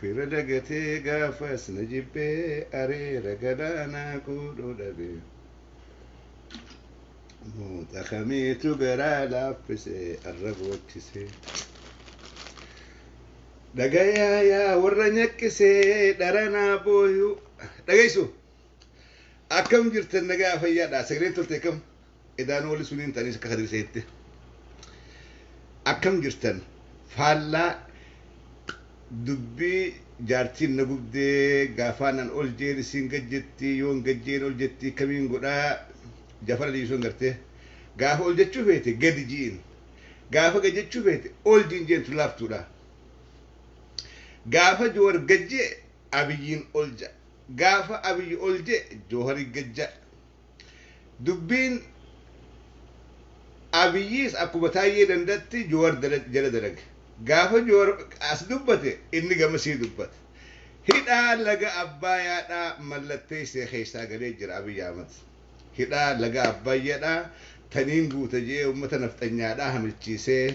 Fira dagatee gaafas na jibbee areera galaanaa quudhuu dhabee Muuxa kamiitu garaa laaffise arra boochisee Dhagayaa yaa warra nyaqqisee dharanaa booyuu Dhageessu akkam jirtan nagaa fayyaadha sagaleen toltee kam Edaa nooli suniin taniis akka kadir seette. Akkam jirtan faallaa dubbii jaartiin na gubdee gaafaan an ol jeen isiin gad jettii yoon gad jeen ol jettii kamiin godhaa jafara dhiisuun gartee gaafa ol jechuu feete gadi jiin gaafa gad jechuu feete ol jiin jeen tun laaftuudha. Gaafa joowar gad jee abiyyiin ol ja gaafa abiyyi ol jee joohari gad ja. Dubbiin Abiyyis akkuma Taayyee Danda'tti Jowar jala dalage. Gaafa Jowar as dubbate inni gamasii dubbata. Hidhaa laga Abbaayaadhaa mallatteessee keessaa galee jira Abiy Ahmad. Hidhaa laga Abbayyadhaa taniin guuta je'ee ummata nafxanyaadhaa hamilchiisee.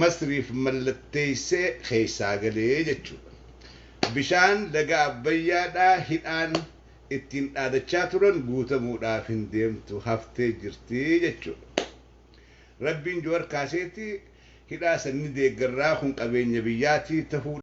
Masriif mallatteessee keessaa gale jechuudha. Bishaan laga Abbayyaadhaa hidhaan ittiin dhaadachaa turan guutamuudhaaf hin deemtu haftee jirti jechuudha. Rabbiin Juwar kaaseeti hidhaa san ni deeggarraa kun qabeenya biyyaatii tahuu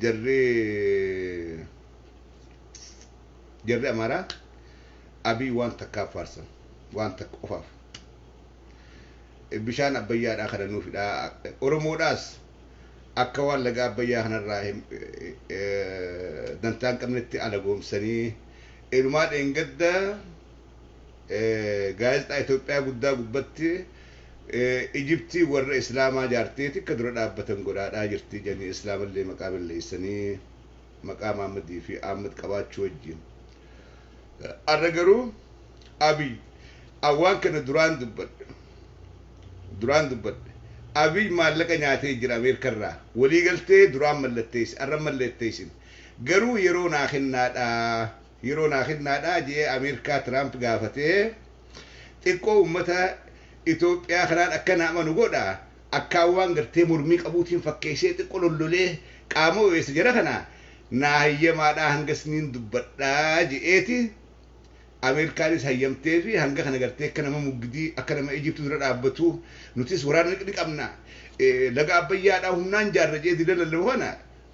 jarri jarri amaaraa abii waan takkaaf faarsan waan takka qofaaf bishaan abbayyaadhaa kana nuuf hidhaa oromoodhaas akka waan laga abbayyaa kanarraa hin- eh, dantaa hin qabnetti alagoomsanii inumaa dheengadda eh, gaazexaa Itoophiyaa guddaa gubbatti Ijiptiin warra islaamaa jaartee tikka dura dhaabbatan godhaadhaa jirti ijanii islaamallee maqaa belleessanii maqaa maammadii fi aammad qabaachuu wajjiin arra garuu abiy an waan kana duraan dubbadhe duraan dubbadhe abiy maallaqa nyaatee jira ameerika irraa walii galtee duraan mallatteesse arra mallatteessin garuu yeroo naa kennaadhaa Yeroo naa kennaadhaa je'ee Ameerkaa Tiraamp gaafatee xiqqoo ummata Itoophiyaa kanaan akka na amanu godha akkaan waan gartee mormii qabuutiin fakkeessee xiqqo lollolee qaama oweessa jara kana naa hayyamaadhaa hanga isniin dubbadhaa je'eeti Ameerkaanis hayyamteefi hanga kana gartee akka nama muggidii akka nama Ijipti dura dhaabbatu nutis waraana ni qabna laga Abbayyaadhaa humnaan jaarra je'ee dila lallaba kana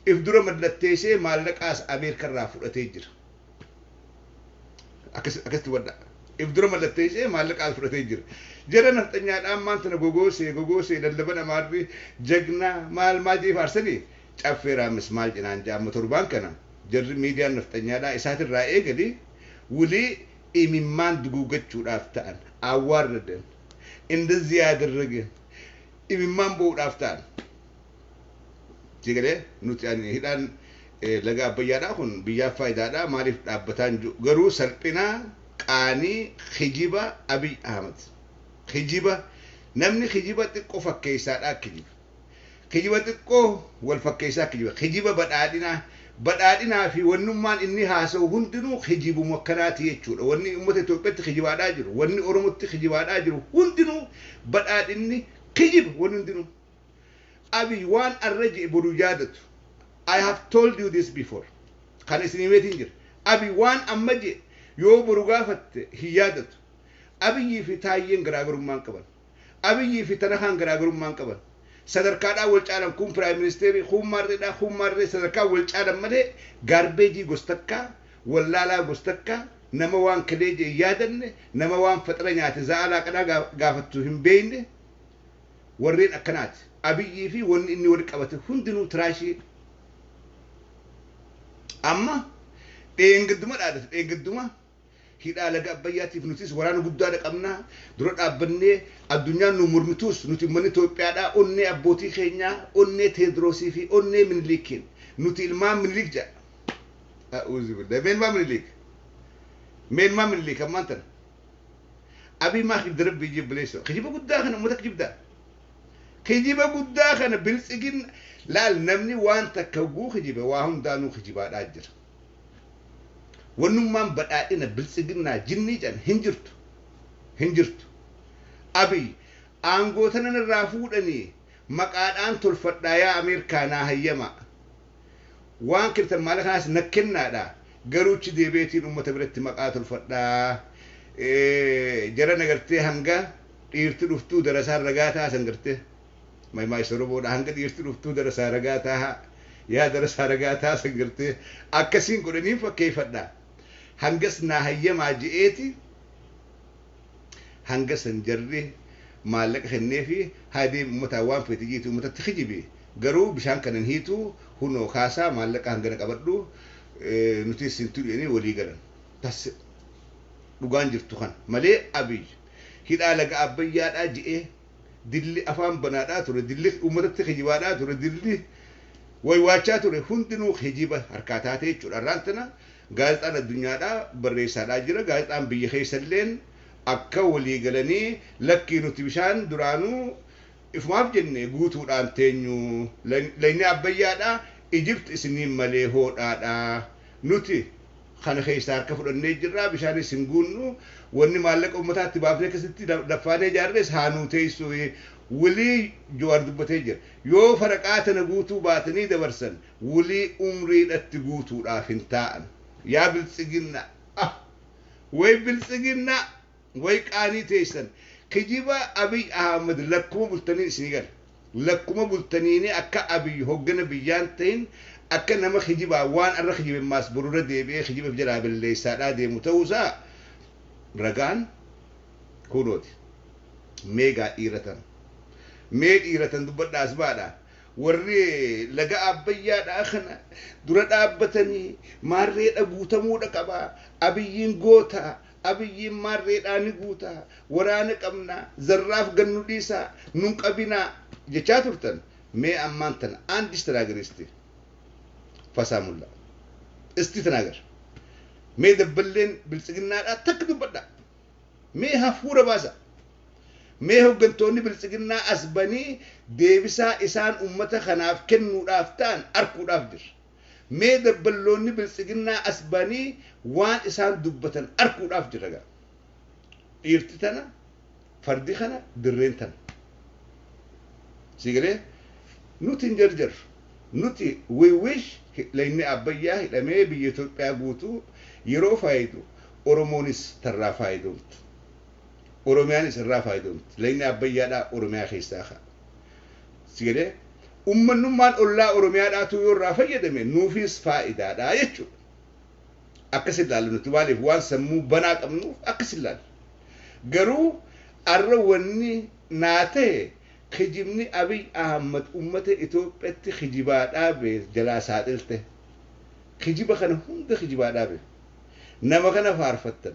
if dura mallatteesee maallaqaas Ameerika irraa fudhatee jira. Akkas, akkasitti hubadhaa. If dura mallatteesee maallaqaas fudhatee jira. Jara nafxanyaadha ammaan tana gogoosee gogoosee lallaban amaarri jagnaa maal maal jedhee faarsanii caffee raammis maal jenaan jedha amma torbaan kana jarri miidiyaan nafxanyaadhaa isaatirraa eegali wulii imimmaan duguuggachuudhaaf ta'an awwaarradan indazii yaadarrageen imimmaan bo'uudhaaf ta'an. Sii galee nuti ani hidhaan laga abbayyaadhaa kun biyyaaf faayidaadhaa maaliif dhaabbataa hin jiru garuu salphinaa qaanii kijiba abiy ahmed kijiba namni kijiba xiqqo fakkeessaadhaa kijiba kijiba xiqqoo wal fakkeessaa kijiba kijiba badhaadhinaa badhaadhinaa fi wannummaan inni haasa'u hundinuu kijibumu akkanaati jechuudha wanni ummata Itoophiyaatti kijibaadhaa jiru wanni Oromotti kijibaadhaa jiru hundinuu badhaadhinni kijiba wanni hundinuu Abiy waan arra je'e boru yaadatu. I have told you this before. Kan isin himeetiin jira. Abiy waan amma je'e yoo boru gaafatte hin yaadatu. Abiyyii fi Taayyeen garaagarummaa hin qaban. Abiyyii fi Tanahaan garaagarummaa hin qaban. Sadarkaadhaan wal caalan kuun Prime Ministeerii, kuun Maarreedhaa, kuun Maarree sadarkaan wal caalan malee gaarbeejii gos takkaa, wallaalaa gos takkaa, nama waan kelee je'e hin yaadanne, nama waan faxira nyaate za'aa laaqanaa gaafattu hin beeyne, warreen akkanaati. Abiyyii fi wanni inni wali qabate hundinuu tiraashii. Amma dheengadduma dhaadatu dheengadduma hidhaa laga Abbayyaatiif nutis waraana guddaadha qabna dura dhaabbannee addunyaan nu mormituus nuti ummanni Itoophiyaadhaa onnee abbootii keenyaa onnee Teediroosii fi onnee Miniliikiin nuti ilmaan Miniliik jedha. A'uuzu billah. Mee ilmaan Miniliik. Mee ilmaan Miniliik ammaan tana. Abiy maa kijibda rabbii jib bileesso kijiba guddaa kana ummata kijibda kijiba guddaa kana biltsigin laal namni waan takka hogguu kijibe waa hundaanuu kijibaadhaa jira wannummaan badhaadhina biltsiginnaa jinnii can hin jirtu hin jirtu Abiy aangoo tanan irraa fuudhanii maqaadhaan tolfadhaa yaa Ameerkaa naa hayyamaa Waan kirtan maalaqaas na kennaadha garuu achi deebi'eetiin ummata biratti maqaa tolfadha. Jarana gartee hanga dhiirti dhuftuu darasaan ragaa ta'a san gartee. Maymaaysa Oromoodha hanga dhiirti dhuftuu darasaa ragaa ta'a. Yaa darasaa ragaa ta'a san gartee akkasiin godhaniin fakkeeffadha. Hangas naa hayyamaa je'eeti. Hanga san jarri maallaqa kenneefi haa deebi'u ummataan waan feete jeeti ummatatti kijibi garuu bishaan kana hin hiitu kunoo kaasaa maallaqa hangana qabadhu nutis sin tuqnu jedhanii walii galan. Tas dhugaan jirtu kana. Malee Abiy hidhaa laga Abbayyaadhaa je'ee. dilli afaan banaadhaa ture, dilli uummatatti kijibaadhaa ture, dilli waywaachaa ture hundinuu kijiba harkaa taatee jechuudha. Har'aan tana gaazexaan addunyaadhaa barreessaadhaa jira. Gaazexaan biyya keessa illeen akka walii galanii lakkii nuti bishaan duraanuu ifumaaf jenne guutuudhaan teenyu, laynni Abbayyaadhaa, Egypt isiniin malee hoodhaadhaa, nuti kana keessaa harka fudhannee jirra, bishaanis hin guunnu, wanni maallaqa ummataa itti baafnee akkasitti daffaanee ijaarres haa nuu teessu wlii Jawaar dubbatee jira. Yoo faraqaa tana guutuu baatanii dabarsan wlii umriidhatti guutuudhaaf hin taa'an. Yaa biltsiginnaa. Ah! Way biltsiginnaa! Way qaanii teessan kijiba abiy Ahmed lakkuma bultaniin isinii gala lakkuma bultaniini akka abiy hoggana biyyaan tahin akka nama kijibaan waan arra kijiben maas boru irra deebi'ee kijiba if jalaa belleessaadhaa deemu ta'uu isaa ragaan kuunooti mee gaa dhiiratan mee dhiiratan dubbadhaa as baadhaa warri laga abbayyaadhaa kana dura dhaabbatanii maarreedha guutamuudha qabaa abiyyiin gootaa Abiyyiin maarreedhaa ni guuta, waraana qabna, zarraaf gad nu dhiisaa, nu hin qabinaa jechaa turtan mee ammaan tana and istinaager isti fasaamullaa isti tinaager mee dabballeen biltsiginnaadhaa takka dubbadhaa mee hafuura baasa mee hoggantoonni biltsiginnaa as banii deebisaa isaan ummata kanaaf kennuudhaaf ta'an arkuudhaaf jirra. Mee dabballoonni biltsiginnaa as ba'anii waan isaan dubbatan arkuudhaaf jirra gaa. Dhiirti tana, fardi kana, dirreen tana. Sii galee? Nuti hin jarjarru. Nuti we wish lagni Abbayyaa hidhamee biyya Itoophiyaa guutuu yeroo faayidu Oromoonis tarraa faayidoomtu. Oromiyaanis irraa faayidoomti. Lagni Abbayyaadhaa Oromiyaa keessaa ka'a. Si galee? Ummannummaan ollaa Oromiyaadhaatuu yoo irraa fayyadame nuufiis faayidaadha jechuudha. Akkas ilaalla nuti maaliif waan sammuu banaa qabnuuf akkas ilaalla. Garuu arra wanni naa ta'e kijibni Abiy Ahmad ummata Itoophiyatti kijibaa dhaabe jalaa saaxilte. Kijiba kana hunda kijibaa dhaabe. Nama kana faarfattan.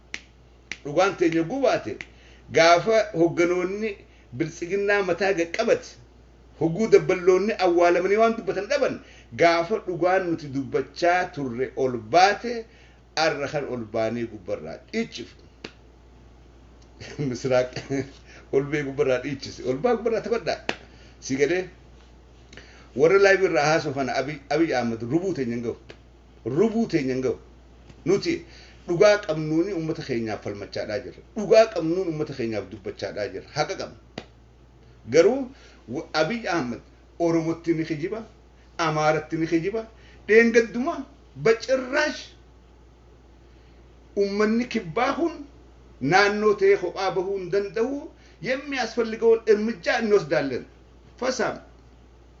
Dhugaan teenya yogguu baate gaafa hogganoonni biltsiginnaa mataa gad qabate, hogguu dabballoonni awwaalamanii waan dubbatan dhaban, gaafa dhugaan nuti dubbachaa turre ol baate arra kan ol baanee gubbarraa dhiichifnu. Misiraaq ol ba'ee gubbarraa dhiichise. Ol ba'aa gubbarraa taphadhaa. Si galee warra live irraa haasoo kana Abiy Ahmad rubuu teenya hin gahu. rubuu teenya hin gahu. Nuti dhugaa qabnuuni ummata keenyaaf falmachaadhaa jirra. Dhugaa qabnuun ummata keenyaaf dubbachaadhaa jirra. Haqa qabna. Garuu wa- Abiy Ahmed Oromotti ni kijiba, Amaaratti ni kijiba, dheengadduma bacirraash ummanni kibbaa kun naannoo ta'ee kophaa bahuu hin danda'u, yemmi asfalligawoon ermijjaa inni wasdaalleen. Fasaam.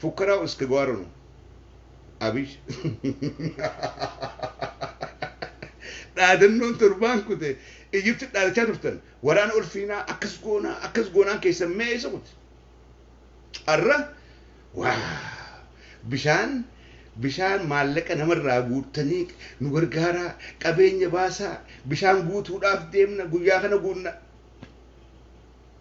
Fukkara uske gowara nu. Abish. Dhaadannoon torbaan kute Ijipti dhaadachaa turtan waraana ol fiinaa akkas goonaa akkas goonaan keessan mee eessa kute? Arra waa bishaan bishaan maallaqa namarraa guuttanii nu gargaaraa qabeenya baasaa bishaan guutuudhaaf deemna guyyaa kana guunna.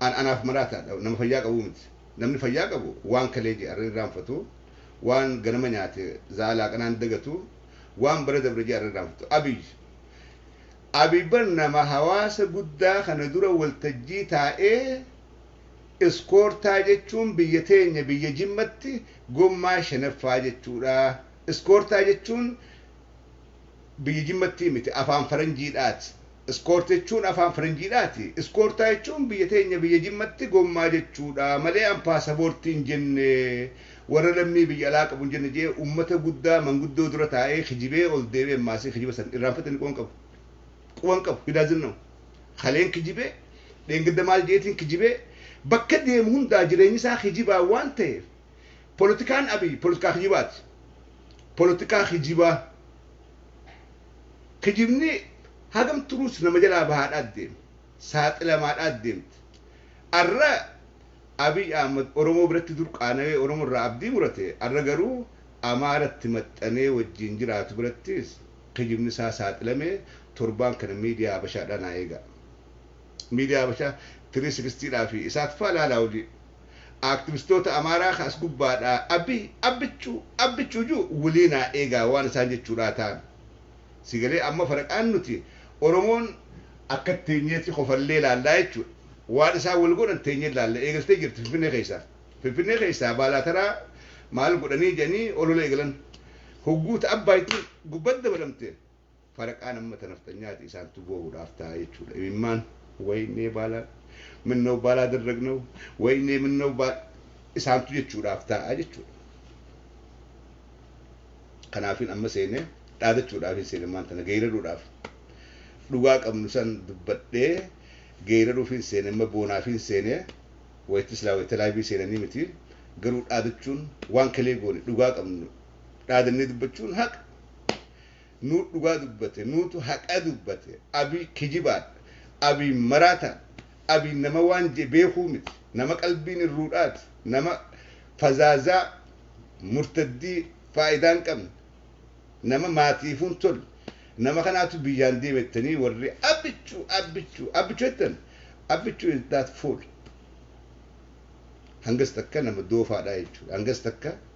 An anaaf maraataa dha, nama fayyaa qabuu miti. Namni fayyaa qabu waan kalee je'an hin irraanfatu, waan ganama nyaate za'aa laaqanaa hin dagatu, waan bara dabre je'an hin irraanfatu. Abiy Abiy bar nama hawaasa guddaa kana dura waltajjii taa'ee iskoortaa jechuun biyya teenya biyya Jimmatti gommaa shanaffaa jechuu dha, iskoortaa jechuun biyya jimmattii miti afaan faranjiidhaati iskoort jechuun afaan faranjiidhaati iskoortaa jechuun biyya teenya biyya jimmatti gommaa jechuudha malee an paasaboortii hin jenne warra lammii biyya alaa qabu hin jenne jee ummata guddaa manguddoo dura taa'ee kijibee ol deebee maasii kijiba san irraanfate inni quban qabu quban qabu he doesn't know kaleen kijibee dheengadda maal jeetiin kijibee bakka deemu hundaa jireenyi isaa kijibaa waan ta'eef Polotikaan Abiy polotikaa kijibaati. Polotikaa kijibaa. Kijibni hagam turuus nama jalaa bahaadhaa deema. Saaxilamaadhaa deemti. Arra Abiy Ahmad Oromoo biratti dur qaanawee Oromo irraa abdii murate arra garuu Amaara itti maxxanee wajjiin jiraatu birattis kijibni isaa saaxilame torbaan kana media Habashaadhaa naa eegaa. Media Habashaa 360 dhaa fi isaat faa laalaa hojii. Aaktivistoota Amaaraa ka as gubbaadhaa Abiy, Abbichuu, Abbichuu ji'u wlii naa eegaa waan isaan jechuudhaa taan. Si galee amma faraqaan nuti Oromoon akka teenyeetti kofallee laallaa jechuudha. Waan isaan wal godhan teenyee laalla. Eegaltee jirti Finfinnee keessaa. Finfinnee keessaa Baalaataraa maal godhanii jedhanii olola eegalan. Hogguu ta Abbaayittiin gubbat dabalamte. Faraqaan ammata nafxanyaati isaantu boo'uudhaaf taa'a jechuudha imimmaan waynee baalaa minnaw baalaa darragnaw waynee minnaw baal isaantu jechuudhaaf taa'a jechuudha kanaafin amma seenee dhaadachuudhaafin seene ammaan tana geeyraruudhaaf dhugaa qabnu san dubbadhee geeyraruufin seene amma boonaafin seene wayta silaa wayta laaybii seenanii miti garuu dhaadachuun waan kalee goone dhugaa qabnu dhaadannee dubbachuun haqa nuut dhugaa dubbate nuutu haqa dubbate abiy kijibaadha abiy maraataadha abiy nama waan je beekuu miti nama qalbiin irruudhaati nama fazaazaa murtaddii faayidaa hin qabne nama maatiifuu hin tolle nama kanaatu biyyaan deeme jettanii warri abbichu abbichu abbichu jettan abbichu is that fool hangas takka nama doofaadha jechuudha hangas takka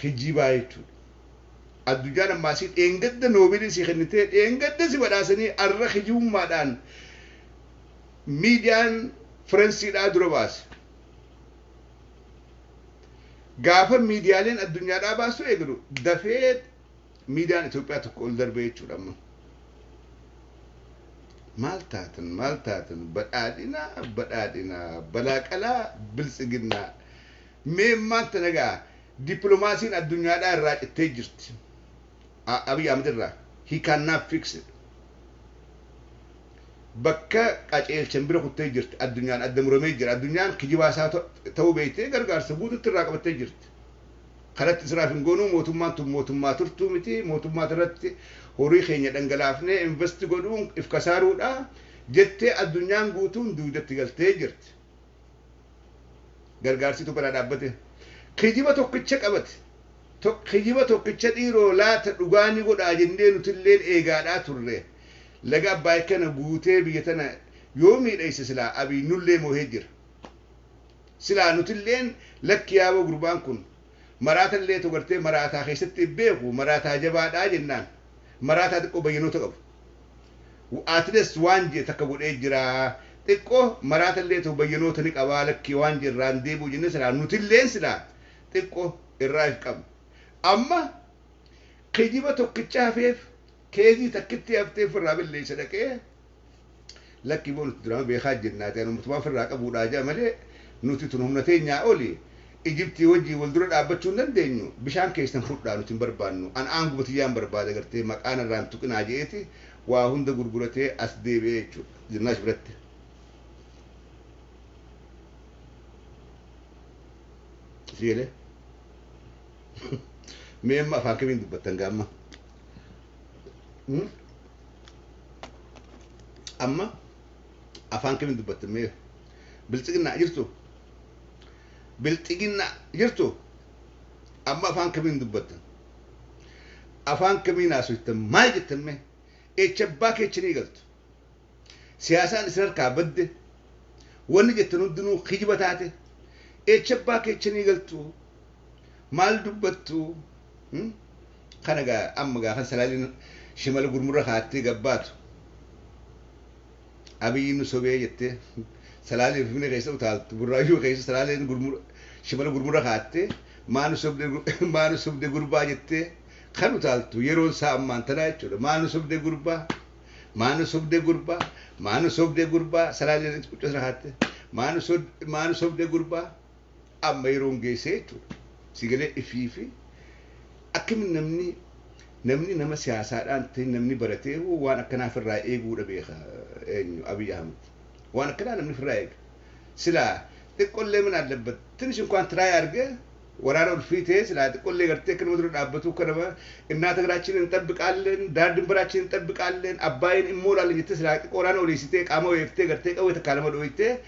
kijibaa jechuudha. Addunyaan ammaa si dheengadda noobeelii si kennitee dheengadda si badhaasanii arra kijibummaadhaan miidiyaan firensiidhaa dura baase. Gaafa miidiyaaleen addunyaadhaa baasuu eegalu dafee miidiyaan Itoophiyaa tokko ol darbee jechuudha amma. Maal taatan maal taatan badhaadhinaa badhaadhinaa balaaqalaa biltsiginnaa. Mee maaltu na ga'a? Dippilomaasiin addunyaadhaa irraa cittee jirti. A, Abiy Ahmed irraa. He cannot fix it. Bakka qaceelchan bira kuttee jirti. Addunyaan adda muramee jira. Addunyaan kijibaa isaa ta- ta'uu beektee gargaarsa guututti irraa qabattee jirti. Kanatti siraaf hin goonuu mootummaan tun mootummaa turtuu miti. Mootummaa irratti horii keenya dhangalaafnee invest godhuun if kasaaruudha. Jettee addunyaan guutuun duudatti galtee jirti. gargaarsitu bira dhaabbate kijiba tokkicha qabate tok kijiba tokkicha dhiiroo laata dhugaa ni godhaa jennee nutilleen eegaadhaa turre laga abbaay kana guutee biyya tana yoo miidhayse silaa abiy nullee moohee jira silaa nutilleen lakki yaaboo gurbaan kun maraatallee togartee maraataa keessatti beeku maraataa jabaadhaa jennaan maraataa xiqqoo bayyanoota qabu Atleast waan jee takka godhee jiraa xiqqo maraatallee ta'u bayyanoota ni qabaa lakkii waan jee irraan deebi'u jennee silaa nutilleen silaa xiqqo irraa if qabna amma kijiba tokkicha hafeef keezii takkittii haftee firraa belleessa dhaqee Lakki boo nuti duraanuu beekaa jirna ati anumatumaa ofirraa qabuudhaa jedha malee nuti tun humna teenyaa oli Ijiptii wajjiin wal dura dhaabbachuu hin dandeenyu bishaan keessan fudhaa nuti hin barbaannu an aanguma tiyyaan barbaada gartee maqaa narraa hin tuqinaa jedheeti waa hunda gurguratee as deebi'e jechuudha Zinnaash biratti. Si galee? Mee amma afaan kamiin dubbattan gaamma? Hmm? amma afaan kemin dubbatte mee bilxiginnaa jirtu bilxiginnaa jirtu amma afaan kemin dubbatte afaan kemin haasofte maal jette mee echa abbaa keechinii galtu siyaasaan isin harkaa badde wanni jettan hundinuu kijiba taate echa abbaa keechinii galtu maal dubbattu Hmm? kana gaa amma gaa kan salaaliin shimala gurmurra kaattee gabbaatu abiyyi nu sobee jettee salaalee finfinnee keessa utaaltu burraayyuu keessa salaaleen gurmura shimala gurmurra kaattee maa nu sobde maa nu sobde gurbaa jettee kan utaaltu yeroon isaa ammaan tanaa jechuudha maa nu sobde gurbaa maa nu sobde gurbaa maa nu sobde gurbaa salaaleen quccasra kaattee maa nu sobde maa nu sobde gurbaa Amma yeroon geessee jechuudha. Si galee ifiifi akkamitti namni namni nama siyaasaadhaan ta'e namni baratee hoo waan akkanaa ofirraa eeguudha beeka eenyu Abiy Ahmed. Waan akkanaa namni ofirraa eega. Silaa xiqqollee mana allabbat tinish inkwaan tiraay arge waraana ol fiitee silaa xiqqollee gartee akka nama dura dhaabbatuu akka nama innaa tagaraachiin hin xabbiqaalleen daar dimbaraachiin hin xabbiqaalleen abbaayiin immoo laalleen jettee silaa xiqqoo waraana oleessitee qaama weeftee gartee qawwee takkaa nama dhooytee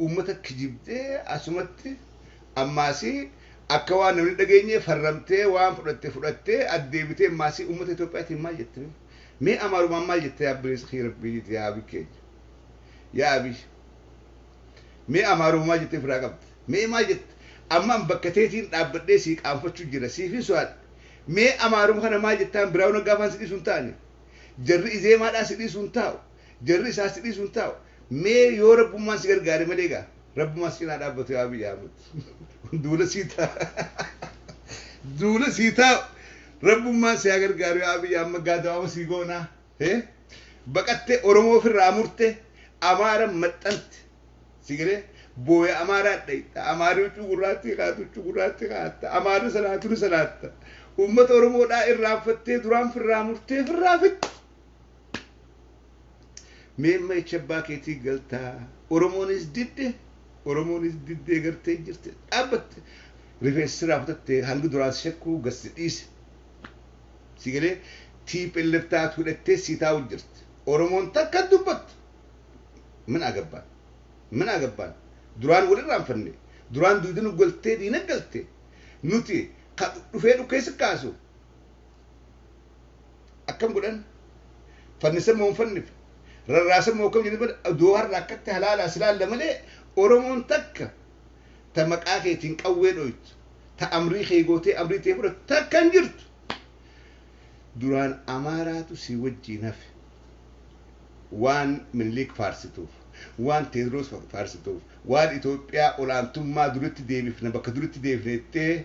uummata kijibdee asumatti ammaasii akka waan namni dhageenyee farramtee waan fudhatte fudhattee addeebitee ammaasii uummata Itoophiyaatiin maal jette mee? Mee amaarumaan maal jette yaa bileessa kiyya rabbii jette yaa abii keenya. Yaa abii. Mee amaaruma maal jettee firaa qabda? Mee maal jette? Ammaan bakka teetiin dhaabbadhee sii qaanfachuu jira siifin so'aadha. Mee amaaruma kana maal jettaan biraawuna gaafaan si dhiisu hin taane? Jarri izeemaadhaa si dhiisu hin taa'u. Jarri isaa si dhiisu hin taa'u. Mee yoo Rabbummaan si gargaare malee egaa Rabbumaa si cinaa dhaabbatu yaa Abiy Ahmed. Duula sii taa'u. Duula sii taa'u. Rabbummaan si haa gargaaru yaa Abiy amma gaadawaama sii goonaa. Hee? Baqattee Oromoo ofirraa murte Amaara maxxante. Si galee booya Amaaraa dhayxa. Amaarri huccuu gurraattii kaa'atte huccuu gurraattii kaa'atta. Amaarri salaatu ni salaatta. Uummata Oromoodhaa irraanfattee duraan firraa murtee firraa fixxe. Mee amma echa abbaa keetii galtaa Oromoonis didde Oromoonis diddee gartee jirte dhaabbatte rifeensa sirraa kutatte hangi duraan si shakkuu gad si dhiise si galee TPLF taatu hidhattee sii taa'u jirti Oromoon takka hin dubbattu min agabbaan min agabbaan duraan wal irraanfanne duraan duuda nu galtee diina galte nuti ka dhufee dhukkee si kaasu akkam godhan fannisan moo hin fannife rarraasan moo akkam jedhan bada du'a har'a akkatti halaalaa silaalla malee oromoon takka ta maqaa keetiin qawwee dhoytu ta amrii kee gootee amrii tee fudhatu takka hin jirtu duraan amaaraatu si wajjiin hafe waan miniliik faarsituuf waan teedroos faarsituuf waan itoophiyaa olaantummaa duritti deebifna bakka duritti deebifne jettee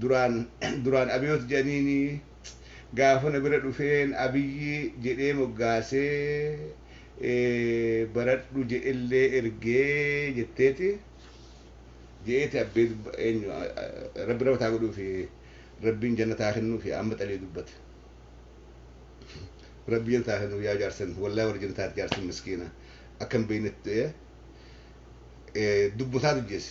duraan duraan Abiyoot jedhaniini gaafa na bira dhufeen Abiyyi jedhee moggaasee baradhu jedhellee erge jetteeti je'eeti abbee dubba eenyu rabbi rahmat haa godhuufi rabbiin jannata haa kennuufi amma xalii dubbate rabbi jannata haa kennuuf yaa jaarsan wallahi warra jannataati jaarsan miskiina akka hin beeynetti du'ee dubbotaatu jeese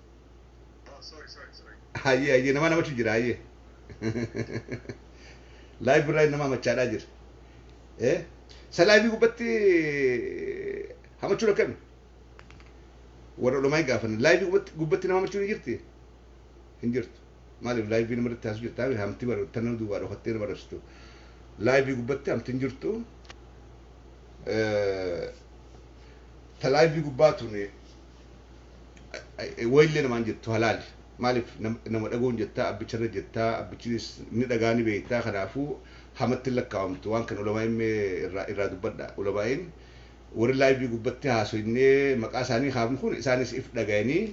hayyee hayyee nama namachu jira hayyee laayiv birraa nama hamachaadhaa jira ee sa laayivii gubbatti hamachuun akkami warra olomaa hin gaafan laayivii gubbatti gubbatti nama hamachuun hin jirti hin jirtu maaliif laayivii nama irratti haasuu jirtaa hamti bara tan nama duwwaa dhokattee nama dhabsitu laayivii gubbatti hamti hin jirtu ta laayivii gubbaa tuni Wayillee namaan jettu halaali. Maaliif nama dhaguun jettaa abbicharra jettaa abbichinis ni dhagaa ni beektaa kanaafuu hamatti hin lakkaawamtu waan kan ulamaa'iin mee irraa irraa dubbadhaa ulamaa'iin warri laayivii gubbatti haasoynnee maqaa isaanii kaafnu kun isaanis if dhagayanii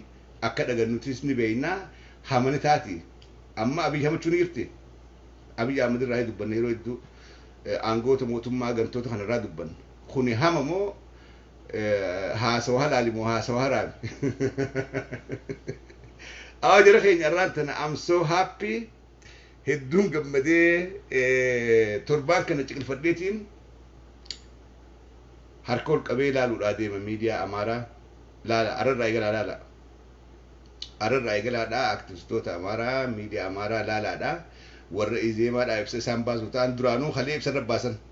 akka dhagan nutis ni beeynaa hamani taati amma abiy hamachuu ni jirti abiy ahmad irraa dubbanne yeroo hedduu aangoota mootummaa gantoota kanarraa dubbanne kuni hama moo haasawa halaali moo haasawa haraami awa jara keenya irraan tana am so happy hedduun gammadee torbaan kana ciqilfadheetiin harka ol qabee laaluudhaa deema miidiyaa amaaraa laala ararraa eegalaa laala ararraa eegalaadhaa aktivistoota amaaraa miidiyaa amaaraa laalaadhaa warra izeemaadhaa ibsa isaan baasu ta'an duraanuu kalee ibsa irra baasan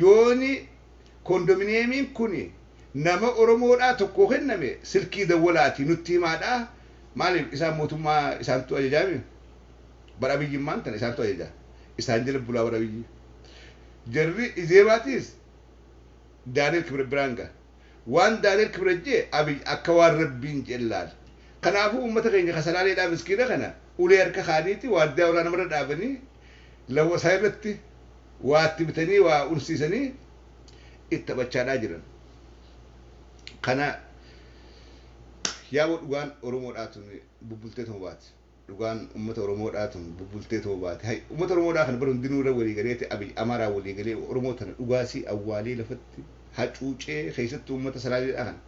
yooni kondominiyeemiin kuni nama oromoodhaa tokkoo kenname silkii dawwalaatii nutti himaadhaa maaliif isaan mootummaa isaantu ajajaami bar abiyyi immaan tana isaantu ajaja isaan jala bulaa bar abiyyi jarri izeemaatiis daaniel kibret biraan ga waan daaniel kibret jee abiyyi akka waan rabbiin jeen laal kanaafuu ummata keenya kasalaaleedhaa miskiina kana ulee harka kaaniiti waardiyaa warraa namarra dhaabanii lawwasaa irratti waa itti bitanii waa unsiisanii itti taphachaadhaa jiran. Kana yaaboo dhugaan Oromoodhaa tun bubbultee tuma baati. Dhugaan uummata Oromoodhaa tun bubbultee tuma baati. Hay uummata Oromoodhaa kana bara hundinuu irra walii galeeti Abiy Amaaraa walii galee Oromoo tana dhugaasii awwaalee lafatti hacuucee keessattuu uummata Salaaleedhaa kana.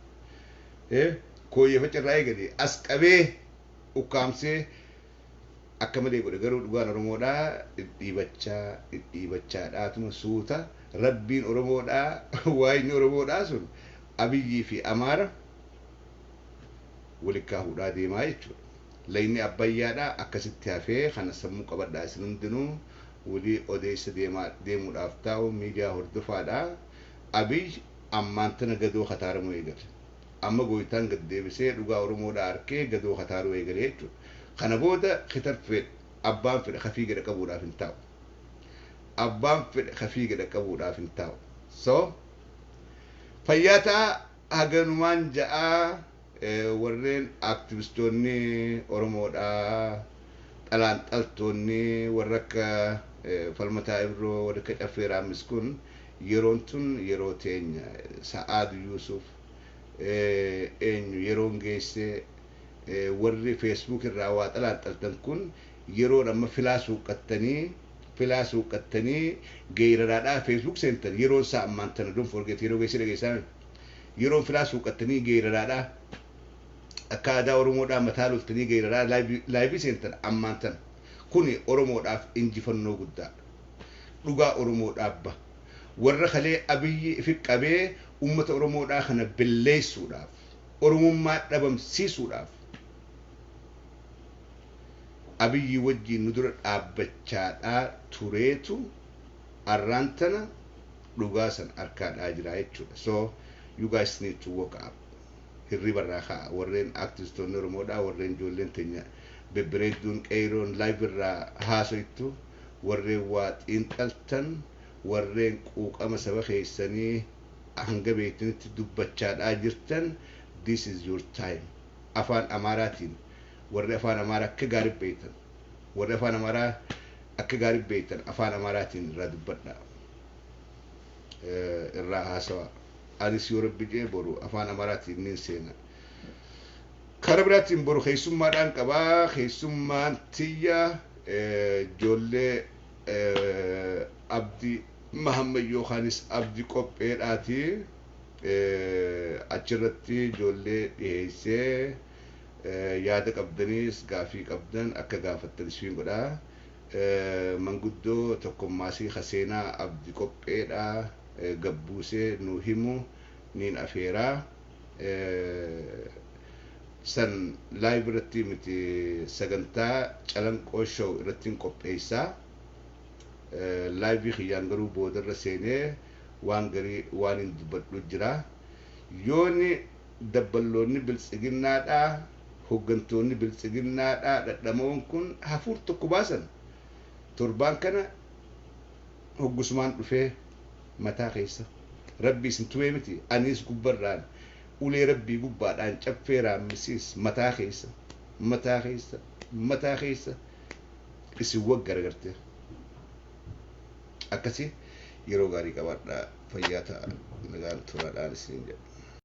Eh, kooyyeefacha irraa eegalee as qabee ukkaamsee akka malee godhe garuu dhugaan oromoodhaa dhidhiibachaa dhidhiibachaa dhaatuma suuta rabbiin oromoodhaa waayni oromoodhaa sun abiyyii fi amaara walikkaa hudhaa deemaa jechuudha layni abbayyaadhaa akkasitti hafee kana sammuu qabadhaa isin hundinuu wulii odeessa deemaa deemuudhaaf taa'u miidiyaa hordofaadhaa abiy ammaan tana gadoo kataaramu eegale. Amma Gooytaan gad deebisee dhugaa Oromoodhaa arkee gadoo kataaruu eegale jechuudha. Kana booda kitarfeen abbaan fedhe ka fiige dhaqqabuudhaaf hin taa'u. Abbaan fedhe ka fiige dhaqqabuudhaaf hin taa'u. So fayyaa ta'aa haganumaan ja'aa warreen aaktivistoonni Oromoodhaa xalaanxaltoonni warra akka Falmataa Ibroo warri akka Caffee Raammis kun Yeroon tun yeroo teenya. Sa'aad Yuusuf, Eenyu yeroon geesse? Warri Facebook irraa waa xalaaxxaltan kun yeroon amma filaa suuqqattanii filaa suuqqattanii geeyraraadhaa Facebook seentan yeroon isaa ammaan tana don't forget yeroo geessee dhageessaame yeroon filaa suuqqattanii geeyraraadhaa akka aadaa Oromoodhaa mataa loltanii geeyraraa live seentan ammaan tana kuni Oromoodhaaf injifannoo guddaadha. dhugaa oromoo dhaabba warra kalee abiyyi ifi qabee ummata oromoodhaa kana belleessuudhaaf oromummaa dhabamsiisuudhaaf abiyyi wajjiin nu dura dhaabbachaadhaa tureetu arraan tana dhugaa san arkaa dhaa jiraa jechuudha so you guys need to walk up hirriba irraa ka'a warreen aktivistoonni oromoodhaa warreen ijoolleen teenya bebbereedduun qeeyroon live irraa haasoyttu warreen waa xiinxaltan, warreen quuqama saba keessanii hanga beektanitti dubbachaadhaa jirtan this is your time. Afaan Amaaraatiin warri Afaan Amaaraa akka gaariitti beektan, warri Afaan Amaaraa akka gaariitti beektan Afaan Amaaraatiin irraa dubbadhaa. Irraa haasawaa. Anis yoo Rabbi jedhe boru Afaan Amaaraatiin niin seena. Kara biraatiin boru keessummaadhaan qabaa keessummaan tiyya Ijoollee Abdi Mahammad yookaanis Abdi Qopheedhaati. Achirratti ijoollee dhiheessee yaada qabdaniis gaafii qabdan akka gaafattan isfiin godha. Manguddoo tokkommaasii ka seenaa Abdi Qopheedhaa gad buusee nuu himu niin afeera. san live irratti miti sagantaa calanqoo show irrattiin qopheessaa live kiyyaan garuu boodarra seenee waan garii waan hin dubbadhu jira yooni dabballoonni biltsiginnaadhaa hoggantoonni biltsiginnaadhaa dhadhamoon kun hafuur tokko baasan torbaan kana hoggusumaan dhufee mataa keessa Rabbi isin tumee miti aniis gubbarraan ulee Rabbii gubbaadhaan caffee raammisiis mataa keessa mataa keessa mataa keessa isin wag garagartee akkasi yeroo gaarii qabaadhaa fayyaa ta'a nagaan turaadhaan isiniin jedha.